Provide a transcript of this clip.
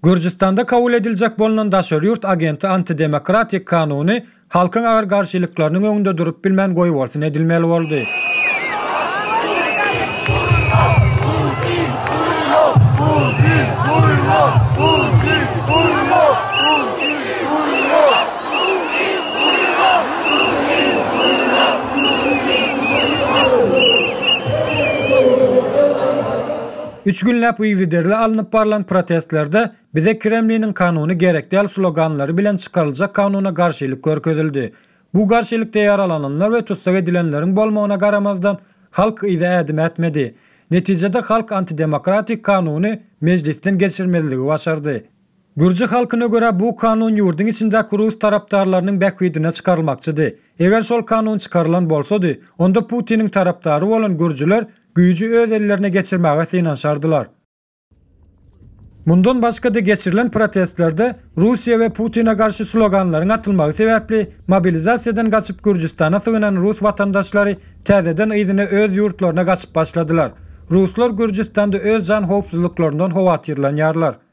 Gürjüstanda kabul ediljek bolnan daşary ýurt agenti antidemokratik kanuny halkyň agyr garşylyklarynyň öňünde durup bilmän goýbolsun edilmeli boldy. Üç günläp yzygiderli alnyp barlan protestlerde Bize Kremliniň kanuny gerek däl sloganlary bilen çykaryljak kanuna garşylyk görkezildi. Bu garşylykda ýaralananlar we tussag edilenleriň bolmagyna garamazdan, halk yza ädim ätmedi. Netijede halk antidemokratik kanuny Mejlisden geçirmezligi başardy. Gürji halkyna görä bu kanun ýurduň içindäki rus tarapdarlarynyň bähbidine çykarylmakçydy. Eger şol kanun çykarylan bolsady, onda Putiniň tarapdary bolan gürjüler güýji öz ellerine geçirmäge synanyşardylar. Mundan başga-da geçirilen protestlerde Russiýa we Putine garşy sloganlaryň atylmagy sebäpli mobilizasiýadan gaçyp Gürjüstana sygynan rus watandaşlary täzeden yzyna öz ýurtlaryna gaçyp başladylar. Ruslar Gürjüstanda öz jan howpsuzlyklaryndan howatyrlanýarlar.